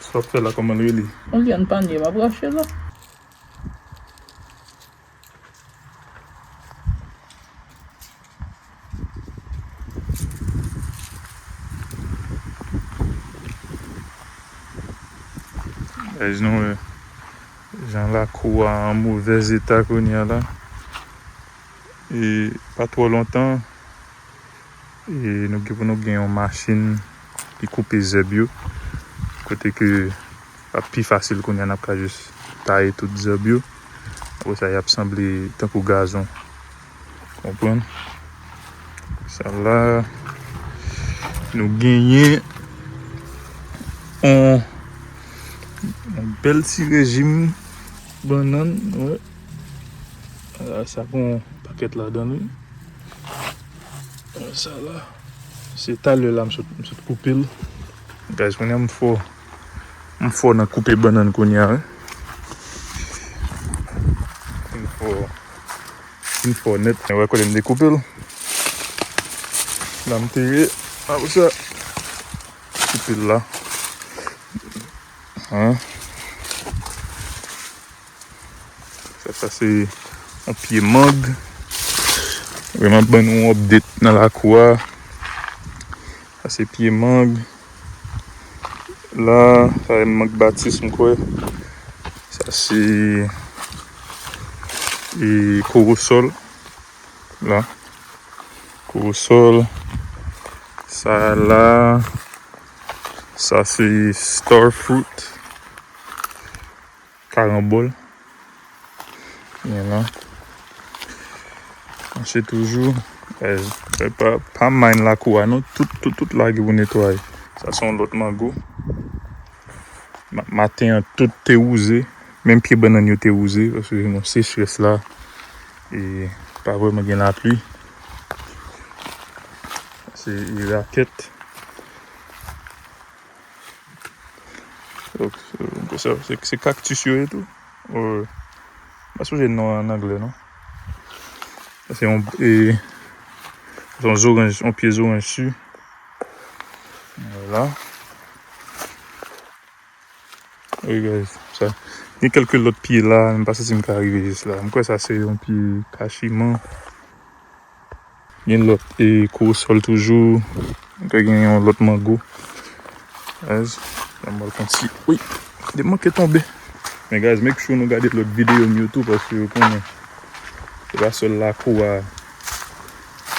Sa wap fè la koman l rele. On vyann panye map rache la. Guys nou wè jan lakou a an movèz eta kounya la e pa twò lontan E nou gen pou nou gen yon machin ki koupe zèb yo. Kote ke ap pi fasil kounye a n ap ka jis taye tout zèb yo. Apre sa y ap sanble tankou gazon. Konprann? Sa la nou genyen yon bèl ti rejim bannann. Sa gen yon pakèt ladan l wi. Sa la, se talè la m sot koupe l. Guys, kounye a m fò. M fò nan koupe bannann kounye a wi. M fò. M fò nèt. Ou wè kote m te koupe l? La m te ye. Apre sa, m koupe l la. Sa se yon pye mang. Mwen ap ban nou yon update nan lakou a. Sa se pye mang. La, sa se mang batis m kwè. Sa se kowosòl. La, kowosòl. Sa la, sa se star fruit. Karanbòl gen la. Mache toujou. Pa mind lakou a non. Tout lage pou netwaye. Sa se yon lòt mango. Maten an tout te wouze. Menm pye bannann yo te wouze. Paske gen yon sechrès la. E pa vrèman gen lapli. Se yon rakèt. Se cactus yo ye tou? Ooh Mwen sonje non an an anglè non. Se yon e yon zoranj, yon pye zoranj su. Vwala. Wi guys, sa. Gen kelke lòt pye la, m pa si si m ka rive jis la. M kwè sa se yon pye kachiman. Gen lòt e korosòl toujou. Te gen yon lòt mango. Guys, an bal fon ti Wi, li manke tonbe. Men guys make sure nou gade lòt videyo m yo tou paske ou konnen se pa sèl lakou a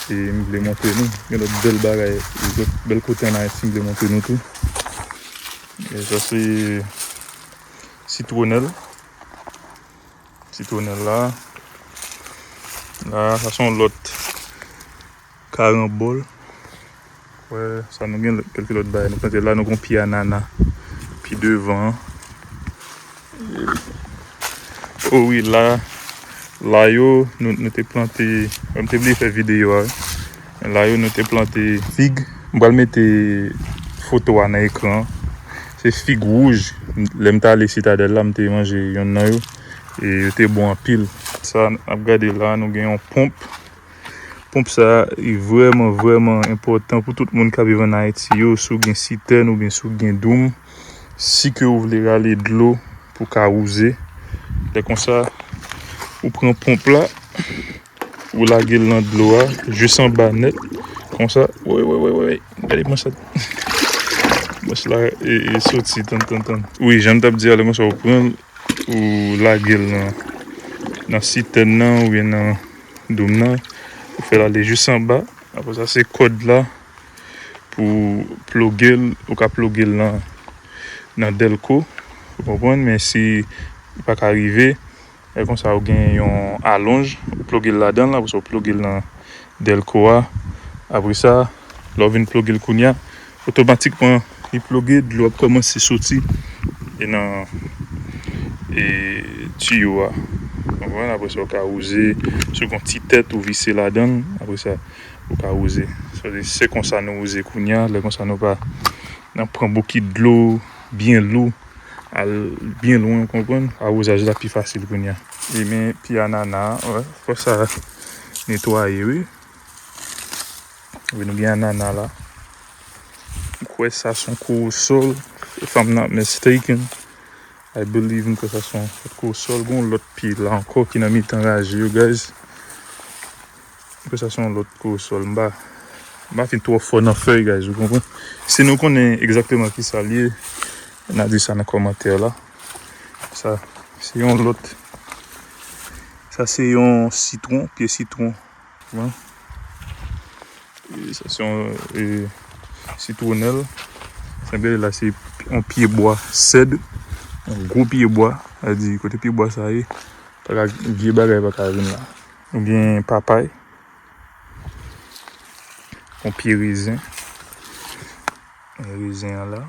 e m vle montre nou. Gen lòt bèl bagay, lòt bèl kote an Ayiti m vle montre nou tou. Sa se sitwonèl. Sitwonèl la. La sa son lòt karanbòl. Wè sa nou gen kèlke lòt bagay nou plante la. Nou gon pye anana pi devan. O wi la. La yo nou te plante. Mwen te bliye fè videyo a. Men la yo nou te plante fig. M pral mete foto a nan ekran an. Se fig wouj. Lè m t ale sitadèl la m te manje yonn nan yo. E yo te bon anpil. Sa n ap gade la nou gen yon ponp. Ponp sa li vrèman vrèman enpòtan pou tout moun k ap viv ann Ayiti yo. Si w gen sitèn oubyen si w gen doum. Si ke ou vle rale dlo pou w ka wouze. Lè konsa ou pran ponp la. Ou lagel nan dlo a jis anba nèt konsa woy woy woy woy gade kman sa mouch la soti tann tann tann wi janm tap di a lè konsa ou pranl ou lagel nan nan sitèn nan oubyen nan doum nan ou fèl ale jis anba apre sa se kòd la pou plogel ou ka plogel nan nan dèlko ou konprann men si ou paka rive. Lè konsa ou gen yon alonj ou ploge l ladan l apresa ou ploge l nan dèlko a apresa lè ou vin ploge l kounya otomatikman li ploge dlo ap kòmanse soti nan tiyo a konprann apresa ou ka wouze si ou gen yon ti tèt ou vise ladan l apresa ou ka wouze se konsa nou wouze kounya lè konsa nou pa nan pran bokit dlo byen lou. al byen lwen ou konprann. Arozaj la pi fasil kounya. E men pye anana a fò sa netwaye wi. Nou gen anana la. M kwè sa son korosòl. If I'm not mistaken. I believe m kwè sa son korosòl. Gon lòt pye la ankò ki nan mitan raje yo guys. Aprè sa se yon lòt koresòl. M pa fin twò fò nan fèy guys ou konprann. Si nou konnen egzakteman kisa li ye na di sa nan kòmantè la. Sa se yon lòt sa se yon sitwon pye sitwon nan sa se yon sitwonèl sa gen la se yon pye bwa sèd yon gwo pye bwa sa di kote pye bwa sa ye pa ka vye bagay pa ka vin la. Nou gen papay. Yon pye rezen. Yon rezen an la.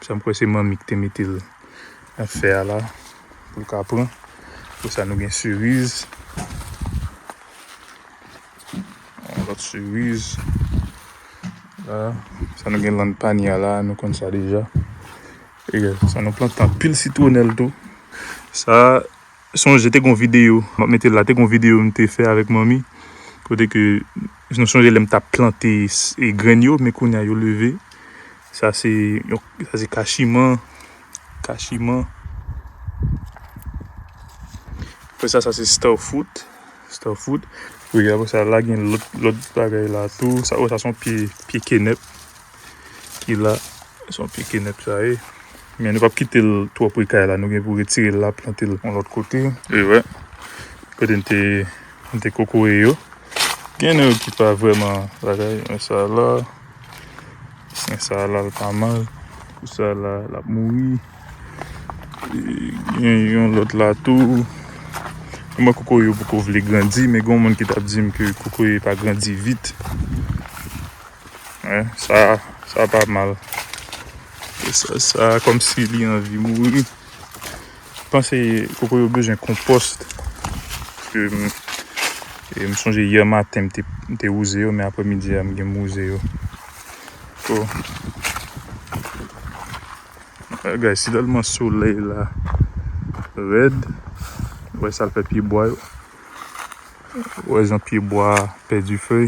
Sa m kwè se manmi ki te mete l nan fè a la. Pou l ka pran. Pou sa nou gen siriz. Yon lòt siriz. La. Sa nou gen lann panye a la. Nou konn sa deja. E sa nou plante anpil sitwonèl tou. Sa Sonje te gen yon videyo, map mete l la, te gen yon videyo m te fè avèk manmi kote ke nou sonje lè m tap plante grenn yo men kounya yo leve. Sa se yon, sa se kachiman, kachiman. Apre sa, sa se starfruit, starfruit. Apre sa la gen lòt, lòt bagay la tou. Sa, oh sa se yon pye, pye kenèp. ki la. Se yon pye kenèp sa ye. Men nou pap kite l twò pre kay la. Nou gen pou retire l la, plante l yon lòt kote. E wè. Kote n te, n te kokoye yo. Gen nan yo ki pa vrèman bagay. Men sa a la. Men sa a la l pa mal. Pou sa a la, l ap mouri. Gen yon lòt la tou. Mwen wè kokoye yo poko vle grandi. Men gen yon moun ki t ap di m ke kokoye pa grandi vit. Hein sa sa pa mal. E sa sa komsi li anvi mouri. Panse koko yo bezwen konpòs. Ke m e m sonje yè maten m te m te wouze yo men aprè midi a m gen m wouze yo. Ko bagay si tèlman solèy la rèd wè sa l fè pyebwa yo. Wè jan pyebwa pèdi fèy.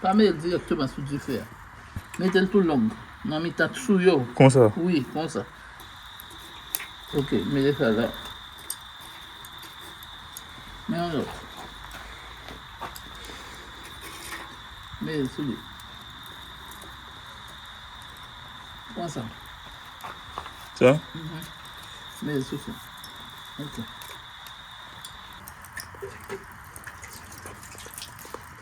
Pa met l direkteman sou dife a. Mete l tou long. Nan mitan tou yo. Konsa? Wi, konsa. Ok, mete sa la. Men yon lòt. Mete l sou li. Konsa. Sa? Mh. Mete l sou sa. Ok.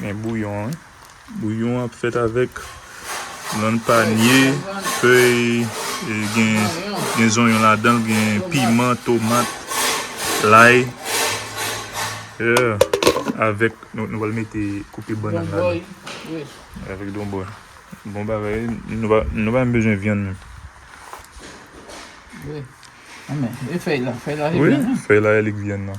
Gen bouyon an. Bouyon ap fèt avèk lann panye, fèy, gen zonyon ladan, gen piman, tomat, lay. Avèk nou pral mete koupe bannann la. Avèk donbòy. Bon bagay. Nou pa menm bezwen vyann menm. Fèy la e lik vyann nan.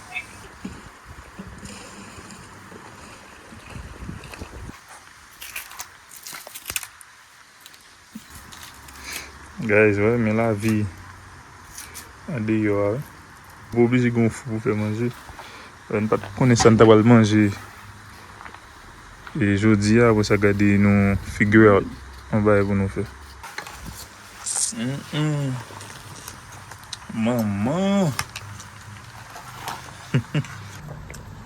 Guys wè men la vi an de yo a wè. Ou oblije gen yon fou pou fè manje. Wè n pat konnen sa n ta pral manje. E jodi a apre sa gade yon figure out mwen bay pou nou fè. Humm manman.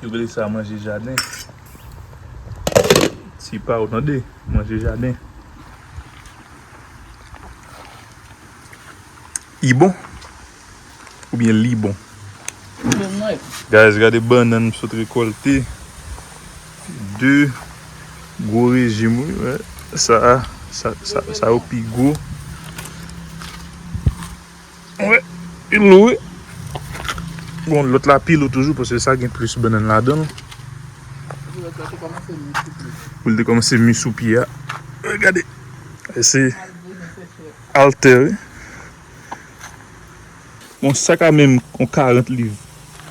Yo rele sa manje jaden. Ti pa ou tande manje jaden. I bon. Oubyen li bon. Guys gade bannan m sot rekolte. 2 gwo rejim wi men sa a sa yo pi gwo. Wè li lou wi. Bon lòt la pi lou toujou paske sa gen plis bannan ladan. Pou l te kòmanse mi sou pye a. Gade. Se alter wi. Bon sa ka menm yon 40 liv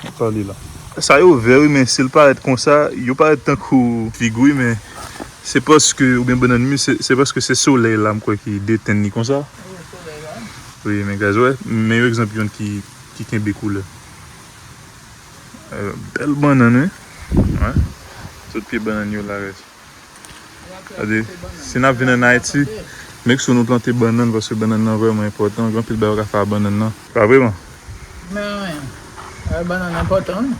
wap pale la. Sa yo vè wi men sil parèt konsa yo parèt tankou fig wi men se paske oubyen bannann mi se paske se solèy la mkwè ki detenn li konsa wi men guys wè men yon egzanp yon ki kenbe koulè bèl bannann wi wè tout pye bannann yo la guys. Gade, si nap vin an Haiti, make sure nou plante bannann paske bannann nan vrèman enpòtan, gen anpil bagay ou ka fè ak bannann nan. Pa vre man? Men, bannann enpòtan wi,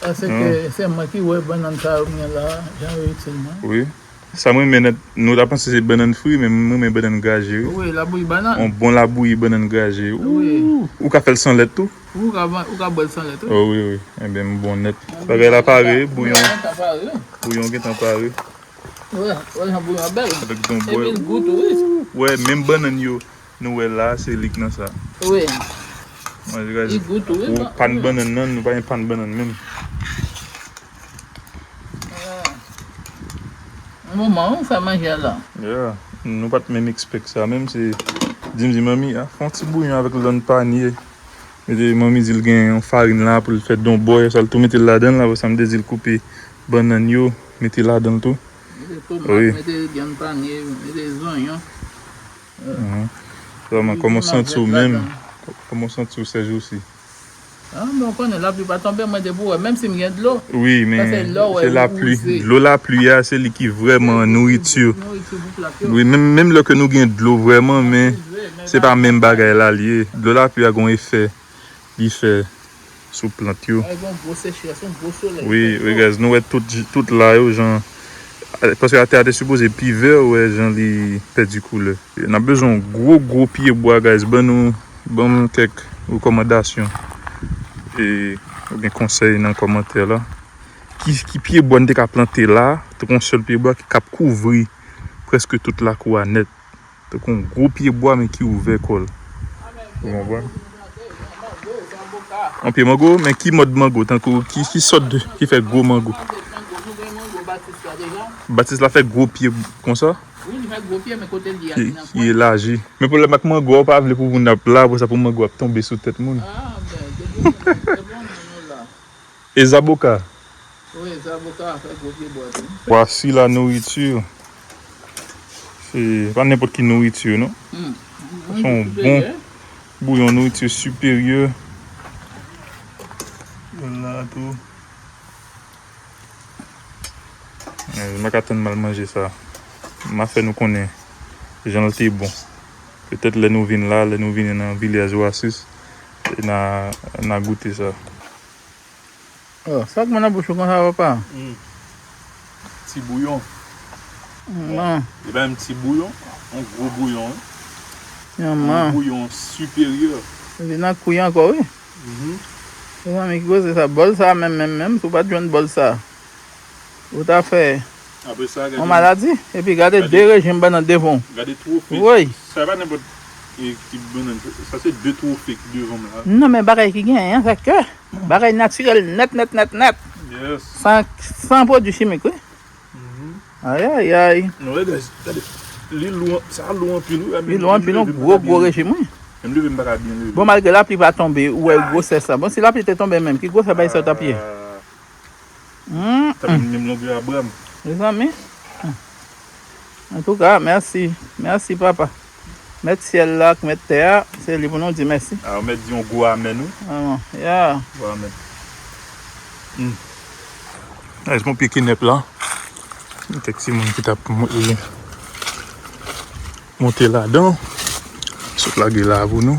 paske se mwen ki wè bannann sa yo m gen la, jan yo itil mwen. Wi, sa m renmen nan, nou ta panse se bannann fri men m renmen bannann graje wi. Wi, labouyi bannann. Yon bon labouyi bannann graje, ooh! Ou ka fè l san lèt tou. Ou ka ban, ou ka bwèl san lèt wi. Oh wi wi, enben m bon nèt. Bagay la pare, bouyon an ka pare wi. Bouyon gentan pare. Ou wè, ou wè jan bouyon an bèl. Avèk don bwè. Epi l gou tou wi. Ou wè, menm bannann yo nou wè la a, se li k nan sa a. Wi. Manje kaje. Li gou tou wi. Pou pann bannann nan, nou pa gen pann bannann menm. Moman ou fè manje a la. Yeah nou pat menm expect sa menm se di m di manmi a fon ti bouyon avèk lann panye mete manmi di l gen yon farin la pou l fè don bòy sa l tou mete l ladan l aprè sa m te di l koupe bannann yo mete ladan l tou mete tomat mete vyann panye mete zonyon Kòman w santi w menm Kòman w santi w sèjousi. Men ou konnen la pli pa tonbe mwen depi ou wè menm si m gen dlo. Wi men se la pli dlo la pli a se li ki vreman nouriti wi menm lè ke nou gen dlo vreman men se pa menm bagay la li ye dlo la pli a gon efè li fè sou plant yo wi wi guys nou wè tout la yo jan paske atè a te sipoze pi vè ou wè jan li pèdi koulè nap bezwen yon gwo gwo pye bwa guys ban nou. Banm kèk rekòmandasyon e oubyen konsèy nan kòmantè la. Ki ki pye bwa nou te ka plante la, tankou yon sèl pye bwa ki kap kouvri prèske tout lakou a nèt. Tankou yon gwo pye bwa men ki ouvè kò l. Ou konprann? Yon pye mango, men ki mòd mango? Tankou ki ki sòt de ki fè gwo mango? Batis la fè gwo pye konsa? Wi li fè gwo pye men kotel ye a li nan pwen. Men pwoblèm ak mango a ou pa vle pou moun ap la apresa pou mango a ap tonbe sou tèt moun. Ah ben depi moun nan fè bon moun ou la. E zaboka? Wi zaboka a fè gwo pye bwa tou. Vwasi la nourriture. Se pa nenpòt ki nourriture non. Sa son yon bon bouyon nourriture supérieur. Yon la tou. Mwen pa ka tann mal manje sa. Ma fè nou konnen jan l te bon. Petèt lè nou vin la, lè nou vini nan Vilyaj Oasis, na goute sa. Oh, sa gou nan bouch ou konsa papa? Humm. Ti bouyon. Manman. Li bay m ti bouyon, yon gwo bouyon wi. Manman. Yon bouyon siperyè. Li nan kouy ankò wi. Mezanmi ki koze sa bòl sa menm menm menm si w pat jwenn bòl sa ou ta fè yon maladi epi gade 2 rejim bannann devan w gade twofe woy sa pa nenpòt ti bannann sa se 2 twofe ki devan m la nan men bagay ki genyen an sa ke bagay natirèl nèt nèt nèt nèt san pwodui chimik wi. Ayayay. Non lè guys. Gade. Li lou. Sa a lou anpil wi. Li lou anpil non. Gwo gwo rejim wi. Menm leve m pa ka byen leve. Bon malgre lapli pa tonbe ou wè gwosès la. Bon si lapli te tonbe menm. Ki gwosè bagay sa yo t ap ye. Sa vin menm longè a bra m. Mezanmi. Antouka mèsi. Mèsi papa. Mèt syèl la ak mèt tè a, se li pou nou di mèsi. A ou mèt di yon gwo amèn wi. Amen yeah. Gwo amèn. Humm. Nice bon pye kenèp la. Gen kèk timoun ki tap monte ladan. Sot lage la pou nou.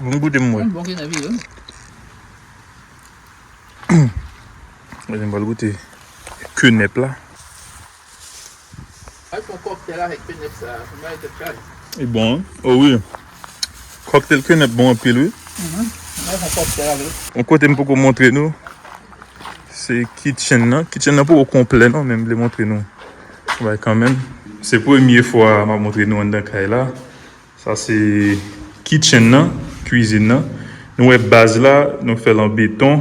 Bon goute m wè. Bon gen nan vire. Mwen gen bal goute kenèp la. Al fon kòktèl avèk kenèp sa. Son bagay tèt chaj. Li bon wi. O wi. Kòktèl kenèp bon anpil wi. Al fon kòktèl avèl. Yon kote m poko montre nou. Se kitchen nan. Kitchen nan poko konplè non men m vle montre nou. Yon bagay kanmenm. Se premye fwa map montre nou anndan kay la. Sa se kitchen nan, cuisine nan. Nou wè baz la, nou fèl an beton.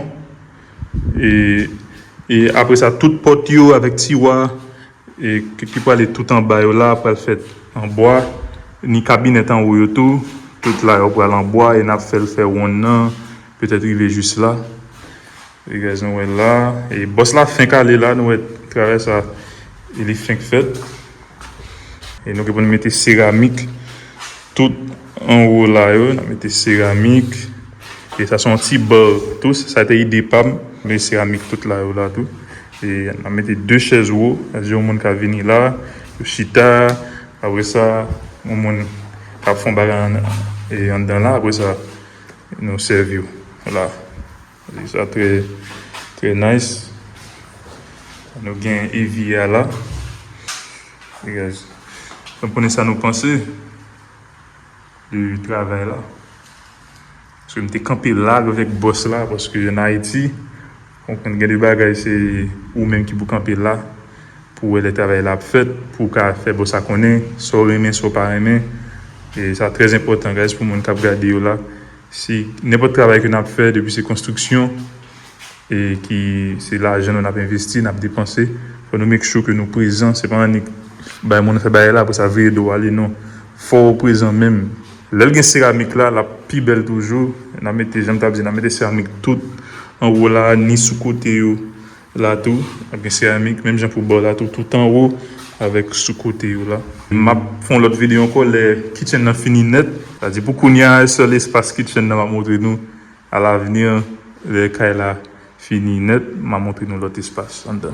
E apre sa tout pòt yo avèk tiwa ki prale tout anba yo la pral fèt an bwa. Ni kabinèt anwo yo tou, tout la yo pral an bwa e nap fèl fè wonn nan, petèt rive jis la. Rivyè nou wè la e bòs la fenk ale la nou wè travay sa li fenk fèt e nou gen pou nou mete seramik tout anwo la yo nan mete seramik e sa son ti bò tou sa te ide pam mete seramik tout la yo la tou e nan mete 2 chèz wo sa di yon moun ka vini la pou chita apre sa yon moun ka fon bagay anndan la apre sa nou sèvi yo la. Mizik sa trè trè nice. Nou gen Evie a la. Hey guys. Fèm konnen sa nou panse de travay la. Paske m te kanpe la avèk bòs la paske an Ayiti ou konn gen de bagay se ou menm ki pou kanpe la pou wè lè travay la ap fèt pou w ka fè bòs la konnen sa w renmen sa w pa renmen. E sa trè enpòtan guys pou moun k ap gade yo la. Si nenpòt travay ke nap fè depi se konstriksyon e ki se lajan nou nap envesti nap depanse fò nou make sure ke nou prezan se pa annik bay moun fè bagay la apresa veye dow ale non fòw prezan menm lèl gen seramik la lap pi bèl toujou nan mete janm tap di nan mete seramik tout anwo la ni sou kote yo La tou ap gen seramik menm jan pou bò la tou tout anwo avèk sou kote yo la. Map fè yon lòt video ankò lè kitchen nan fini nèt. Sa di pou kounya sèl espas kitchen nan map montre nou a lavni lè kay la fini nèt ma montre nou lòt espas anndan.